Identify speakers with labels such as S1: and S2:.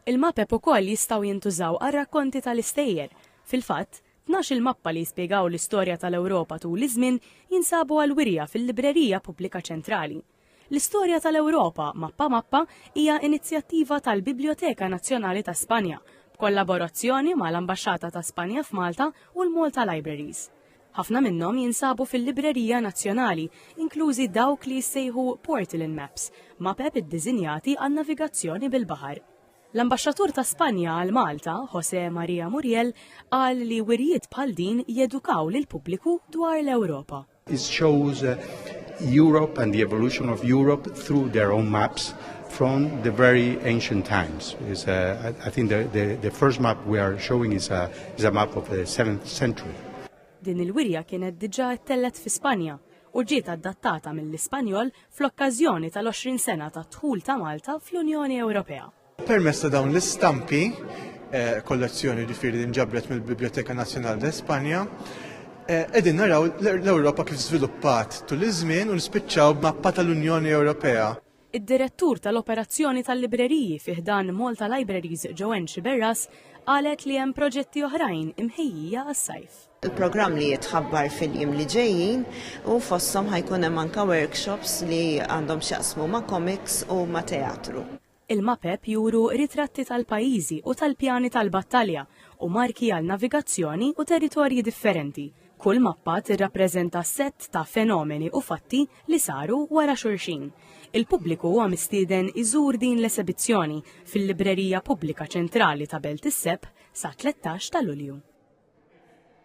S1: Il-mapep ukoll jistgħu jintużaw għar-rakkonti tal-istejjer. Fil-fatt, tnax-il mappa li jispjegaw l-istorja tal-Ewropa tul iż-żmien jinsabu għall-wirja fil-Librerija Pubblika Ċentrali. L-Istorja tal-Ewropa, Mappa Mappa hija inizjattiva tal-Bibljoteka Nazzjonali ta' Spanja, b'kollaborazzjoni mal-Ambaxxata ta' Spanja f'Malta u l-Malta Libraries. Ħafna minnhom jinsabu fil-Librerija Nazzjonali, inklużi dawk li jissejħu Portland Maps, mapep iddiżinjati għan-navigazzjoni bil-baħar. L-Ambaxxatur ta' Spanja għal Malta, José Maria Muriel, qal li wirjiet bħal din jedukaw lill-pubbliku dwar l-Ewropa. It shows uh,
S2: Europe and the evolution of Europe through their own maps from the very ancient times. Is, uh, I, I think the, the, the first map we are showing is a, is a map of the 7th century. Din il-wirja
S1: kienet diġà ttellgħet fi Spanja u ġiet adattata mill-Ispanjol fl-okkażjoni tal-20 sena tad-dħul ta' Malta fl-Unjoni Ewropea. Permezz ta' dawn
S3: l-istampi, kollezzjoni ġifieri li nġabret mill-Biblioteca Nacional de España, qegħdin naraw l-Ewropa kif żviluppat tul iż-żmien u nispiċċaw b'mappa tal-Unjoni Ewropea. Id-Direttur
S1: tal-Operazzjoni tal-Libreriji fi ħdan Malta Libraries Joanne Sciberras qalet li hemm proġetti oħrajn imħejjija għas-sajf. Il-programm li
S4: jitħabbar fil-jiem li ġejjin u fosthom ħajkun hemm anke workshops li għandhom x'jaqsmu ma' komiks u ma' teatru. Il-mapep
S1: juru ritratti tal-pajjiżi u tal-pjani tal-battalja u marki għal navigazzjoni u territorji differenti. Kull mappa tirrappreżenta sett ta' fenomeni u fatti li saru wara xulxin. Il-pubbliku huwa mistieden iżur din l-esebizzjoni fil-Librerija Pubblika Ċentrali ta' Belt is-Sepp sa 13 ta' Lulju.